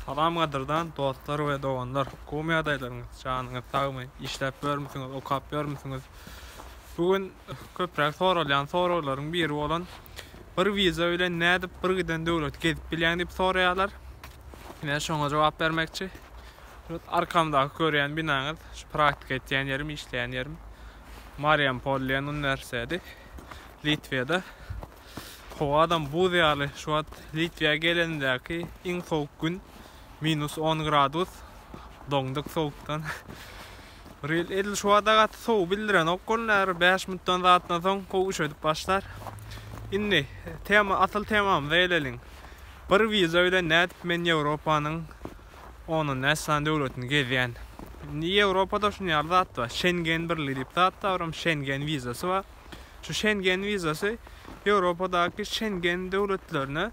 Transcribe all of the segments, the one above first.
Salam gadyrdan dostlar we doganlar komy ýagdaýlaryňyz janyňyz sagmy işläp ýörmüsiňiz okap ýörmüsiňiz bu gün köpräk soralýan soraglaryň biri bolan bir wiza bilen nädip bir giden döwleti gezip bilýäň diýip soraýarlar men şoňa jogap bermekçi şut arkamdaky görýän binaňyz şu praktika etýän ýerim işleýän ýerim Mariampol diýen uniwersiteti Litwede Howadam buz ýaly. Şu wagt Litwä gelenimdäki iň sowuk gün, minus on gradus. Doňduk sowukdan. Bir ýyl edil şu wagta gaty sowuk bildirenok bolun, häzir bäş minutdan zatdan soň gowy üşedip başlar. Indi tema, asyl temamyza geleliň. Bir wiza bilen nädip men Ýewropanyň ondan näçe sany döwletini gezýän? Indi Ýewropada şuny ýaly zat bar, Şengen birligi diýip zat bar, olam Şengen wizasy bar. Şu Şengen wizasy Ýewropadaky Şengen döwletlerine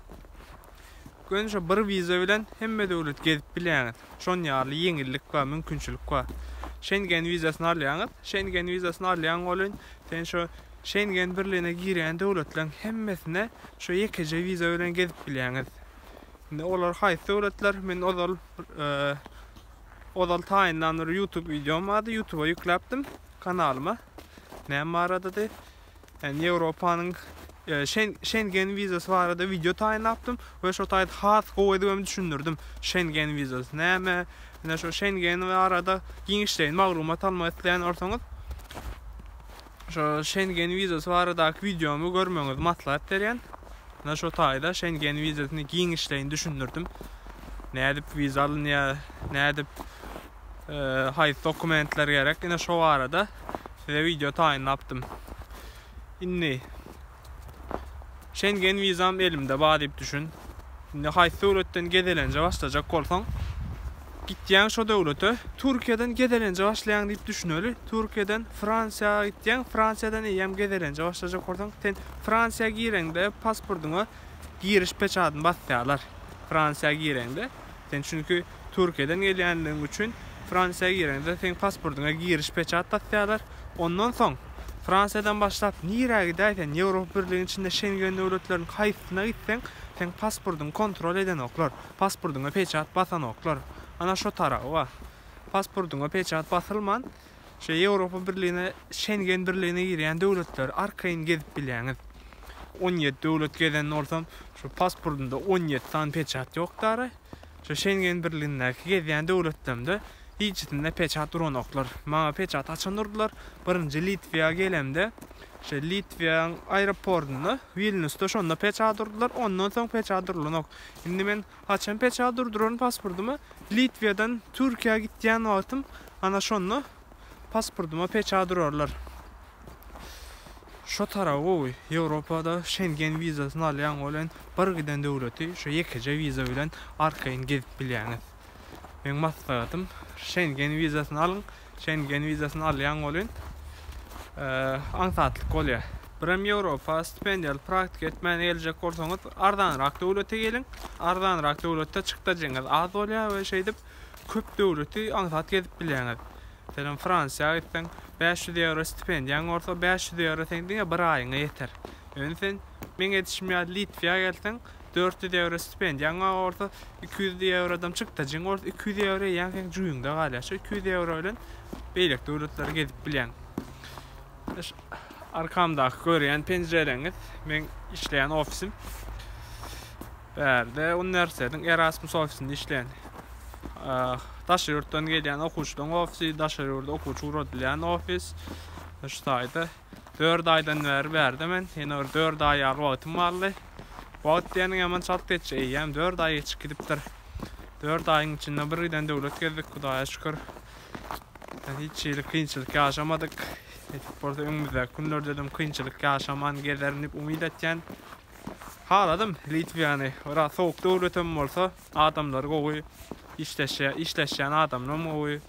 göni şo bir wiza bilen hemme döwleti gezip bilýäňiz. Şon ýaly ýeňillik bar, mümkinçilik bar. Şengen wizasyny alýaňyz. Şengen wizasyny alýaň welin sen şo Şengen birligine girýän döwletleriň hemmesine şo ýekeje wiza bilen gezip bilýäňiz. Indi olar haýsy döwletler? Men ozal ozal taýynlan bir YouTube wideom bardy. YouTube'a ýükläpdim. Kanalyma näme baradady? Ýani Ýewropanyň Şengen wizasy barada wideo taýynlapdym we şo taýda has gowy edip hem düşündirdim. Şengen wizasy näme? Ýene şo Şengen barada giňişleýin maglumat almak isleýän bolsaňyz, şo Şengen wizasy baradaky wideomy görmegiňizi maslahat berýän. Ýene şo taýda Şengen wizasyny giňişleýin düşündirdim. Nädip wiza alynýar? Nädip Haýsy dokumentler gerek ine şo barada size wideo taýynlapdym. Indi Şengen wizam elimde bar diýip düşün. Indi haýsy döwletden gezelenje başlajak bolsaň, gitýäň şo döwlete, Türkiýeden gezelenje başlaýaň diýip düşüneli. Türkiýeden Fransiýa gitýäň, Fransiýadan eýýäm gezelenje başlajak bolsaň, sen Fransiýa gireňde pasportyňa giriş peçadyny basýarlar. Fransiýa gireňde. Sen çünki Türkiýeden gelýänligiň üçin Fransiýa gireňde seň pasportyňa giriş peçat basýarlar, ondan soň Fransiýadan başlap nirä gidäýsen Ýewropa birligiň içinde Şengen döwletleriniň haýsysyna gitseň seň pasportyňy kontrol edenoklar, pasportyňa peçat basanoklar. Ana şo taraby bar. Pasportyňa peçat basylman şo Ýewropa birligine Şengen birligine girýän döwletleri arkaýyn gezip bilýäňiz. On ýedi döwlet gezen bolsam şo pasportymda on ýedi sany peçat ýokdara. Şu Şengen birligindäki gezýän döwletlerimde hiçisinde peçat duranoklar. Maňa peçat açan durdular. Birinji Litwiýa gelemde, şeý Litwiýanyň aeroportunda, Wilnýusda şonda peçat urdular, ondan soň peçat urulanok. Indi men haçan peçat urduraryn pasportyma, Litwiýadan Türkiýä gitýän wagtym, ana şonda Pasportyma peçat urarlar. Şo tarap gowy. Ýewropada Şengen wizasyny alýaň, ol hem bir giden döwleti şo ýekeje wiza bilen arkaýyn gezip bilýäňiz. Meň maslahatym, Şengen wizasyny alyň. Şengen wizasyny alýaň, ol hem aňsatlyk bolýar. Birem Ýewropa stipendiýaly praktika etmäne geljek bolsaňyz, arzanrak döwlete geliň. Arzanrak döwletde çykdajyňyz az bolýar we şeýdip, Köp döwleti aňsat gezip bilýäňiz. Meselem, Fransiýa gitseň, bäş ýüz ýewro stipendiýaň bolsa, bäş ýüz ýewro seň diňe bir aýyňa ýeter. Ýöne sen, meň edişim ýaly, Litwä gelseň, dört ýüz ýewro stipendiýaň bar bolsa, iki ýüz ýewrodam çykdajyň bolsa, iki ýüz ýewro eýýäm seň jüýňde galýar. Şo iki ýüz ýewro bilen beýleki döwletleri gezip bilýäň. Arkamdaky görýän penjirelerňiz, meň işleýän ofisim. Bärde uniwersitetiň Erasmus ofisinde işleýän. Daşary ýurtdan gelýän okuwçylaryň ofisi, daşary ýurda okuwçy ugradylýan ofis. Şu taýda 4 aýdan bäri bärde men. Ýene bir 4 aý ýaly wagtym galdy. Wagt diýeniň ýaman çalt geçýär. Eýýäm 4 aý geçip gidipdir. 4 aýyň içinde bir giden döwlet gezdik, Hudaýa şükür. Hiç hili kynçylyk ýaşamadyk. Nesip bolsa öňümizdäki günlerde-dem kynçylyk ýaşaman gezerin diýip umyt etýän. Haladym Litwiýany. Biraz sowuk döwletem bolsa, adamlary gowy, işleşýär, işleşýän adamlaram gowy.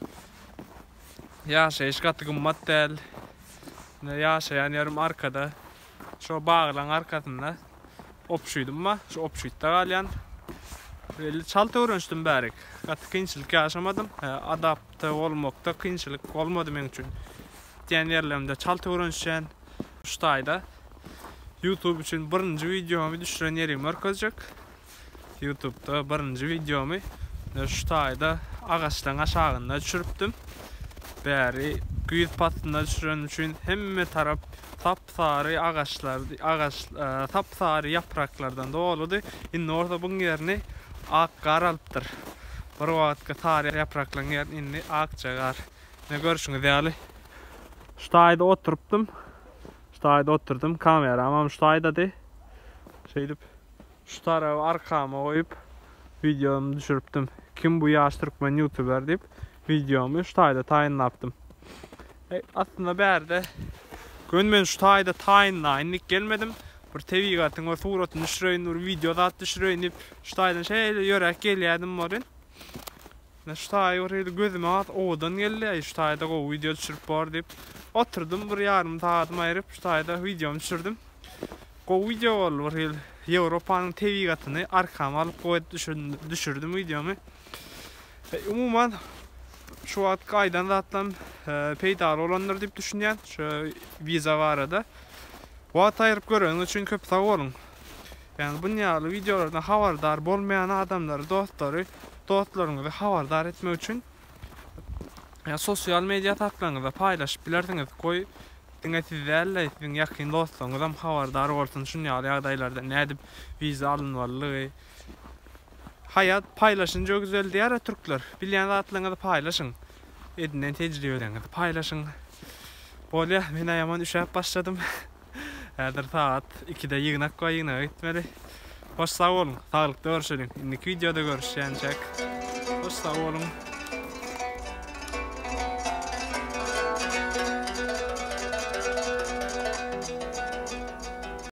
Ýaşaýyş gaty gymmat däl. Ine, ýaşaýan ýerim arkada. Şo baglaryň arkasynda obşüdüm bar. Şu obşütde galýan. Belli çalt öwrenişdim bärik. Gaty kynçylyk ýaşamadym. Adapta bolmakda kynçylyk bolmady meň üçin. Gitýän ýerlerimde çalt öwrenişýän. Şu taýda YouTube üçin birinji wideomy düşüren ýerim görkezjek. YouTube'da birinji wideomy şu taýda agaçlaryň aşagynda düşüripdim. Bäri güýz paslynda düşürenim üçin hemme tarap sap-sary agaçlar, agaç e, sap-sary ýapraklardan doludy. Indi bolsa buň ýerini ak gar alypdyr. Bir wagtky sary ýapraklaryň ýerini indi akja gar. Ine görşüňiz ýaly şu taýda oturypdym. Şu taýda oturdym. Kameram hem şu taýdady. Şeýdip şu taraby arkama goýup videomy düşürüpdim. Kim bu ýaş türkmen youtuber diýip videomy şu taýda taýynlapdym. E, aslynda bärde gün men şu taýda taýynlaýyn diýip gelmedim. Bir tebigatyň bir suratyny düşüreýin, bir video zat düşüreýin diýip şu taýdan şeýle ýörek gelýärdim bolin. Men şu taýy bir hili gözüme has owadan geldi, äý şu taýda gowy wideo düşürip bor diýip, oturdym bir ýarym sagadymy aýryp şu taýda wideomy düşürdim. Gowy wideo boldy bir hili Ýewropanyň tebigatyny arkama alyp goýup düşürdim wideomy. Umuman şu wagtky aýdan zatlarym peýdaly bolandyr diýip düşünýän şu wiza barada. Wagt aýryp göreniňiz üçin köp sag boluň. Ýagny bun ýaly wideolardan habardar bolmaýan adamlary dostlary dostlaryňyzy habardar etmek üçin sosial media hasaplaryňyzda paýlaşyp bilersiňiz goý diňe siz däl-de siziň ýakyn dostlaryňyzam habardar bolsun şun ýaly ýagdaýlardan nädip wiza alynmalydygy Haýat paýlaşynca güzeldýär-a türkler bilýän zatlaryňyzy paýlaşyň edinen tejribeleriňizi paýlaşyň bolýa men-ä ýaman üşäp başladym. Häzir sagat ikide ýygnak bar ýygnaga gitmeli. Hoş sag boluň. Saglykda görşeliň. Indiki wideoda görüşýänçäk. Hoş sag boluň.